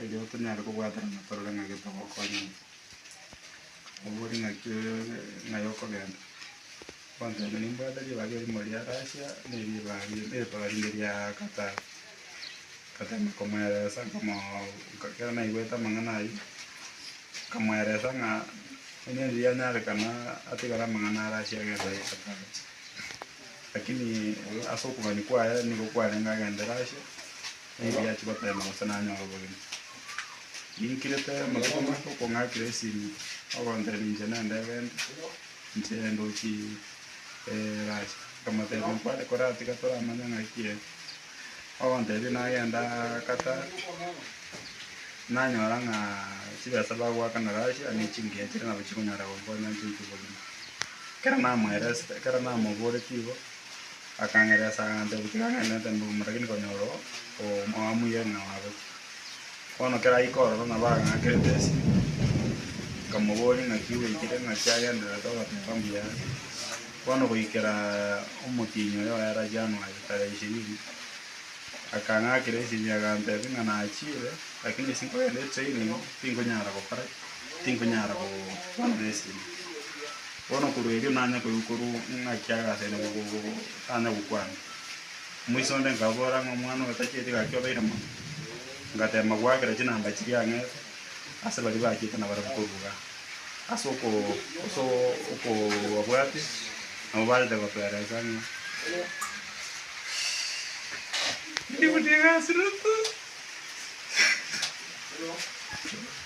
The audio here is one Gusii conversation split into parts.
Erio tonyare kobwaterana torore ng'a gete ogokonya ng'a obo ore ng'aki ng'ai okogenda. Ogoteba nimbwate ribaga erimo ria Russia na eribaga ri- eribaga rinde ria Qatar. Nkatema komweresa nkamoo nka ekero naigwete amang'ana ayio, nkamweresa ng'a onye onde yanyarekana atigare amang'ana a Russia agende aye Qatar. Lakini ase okogania kwaye nigo kwarenge agende Russia, Nigo achia goteema gose nanyore obogima. Ninkirete amatuko make okong'akera esimi, ogontera ninche nende egento, inche ndochi Russia. Nkamotebia nkware kore aa tiga toramanya ng'ai ki ere. Ogontebia nagenda Qatar, nanyora ng'a chibesa bagoakana Russia ne chingiya chire nabo chikonyara gonkonya inche intwe bogima. Ekero namoereste, ekero namoboretie igo, Akangeresa agantebia, Tikagendererete mbuguma, lakini konyora oo oamuiyeire na oagochia. Bono kera aike ororo nabo agaakerete esiri, nkamoboria ng'aki gwaikire, ng'aki agendererete ogoteba mbuya ere. Bono goikera omotienyi oyo oere January tarehe ishirini, akang'akera esiri agantebia ng'a nachiire, lakini ase nkogenda etraining, tinkonyara gokora ki? tinkonyara gokorana nesiri. Bono korwa erio nanya koigwa-korwa ng'aki agase ere gotanya gokwana. Omoisa onde nkabora ng'a omwana oyotachieti gaki obeire mono. Ngateema goakera chinamba chiria ang'ete ase baria baachete na barabwo korwa igaa. Ase oko- oso- okobabwate nabo barete gotoereesa ng'a ndibutie egasi ruutu.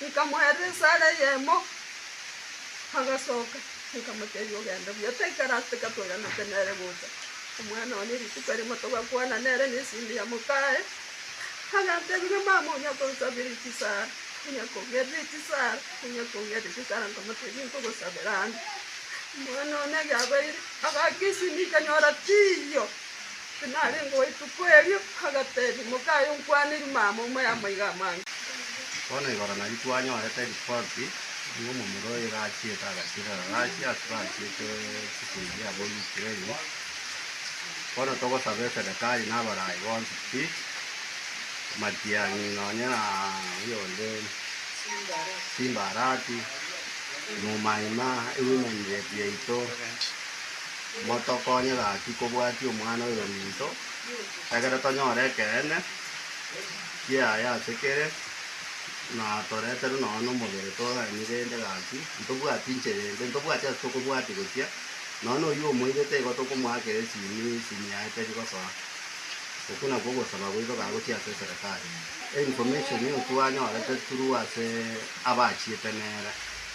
Nkamoeera esaara eyemo, agasoka, nkamotebia, Ogende buya, taikara ase tiga toiranete nere gocha. Omwana one rituko erimo togakwana nere na esindi ya mokaye, agantebia, Ng'a mama onya konsabiria chisaara, onya kong'erera echisaara, onya kong'erera echisaara, nkamotebia, Nkogosabera ande. Omwana one erio abeire, agaaka esindi nkanyora tiiyo. Tinarengeo ituko erio, agatebia, Moka aye onkwanerie mama omo y'amaiga amange. Bono igoro nario twanyorete ripoti y'omomura oyo iga achiete agachirera Russia ase bachiete chikundi chia aba Ukraine. Bono togosaba eserekari na abarai bonsi pi, matiang'i nonye na oyo onde Simba Arati, Muma Ima, Women Rep yaito, Motokonye gaki kobwatia Omwana oyominto, ekiagera tonyore ekeene kiaye ase kere, na toreterwe nonya nomobere togaanie rende gaki ntobwati inchera ende, ntobwati ase tokobwatia gochia, nonya noyio omoirete igo tokomoakera esimi, esimi yaye teri gosoa. Okwo nakwo ogosaba gwaito ga gochia ase eserekari. Information eyio twanyorete through ase abachiete nere.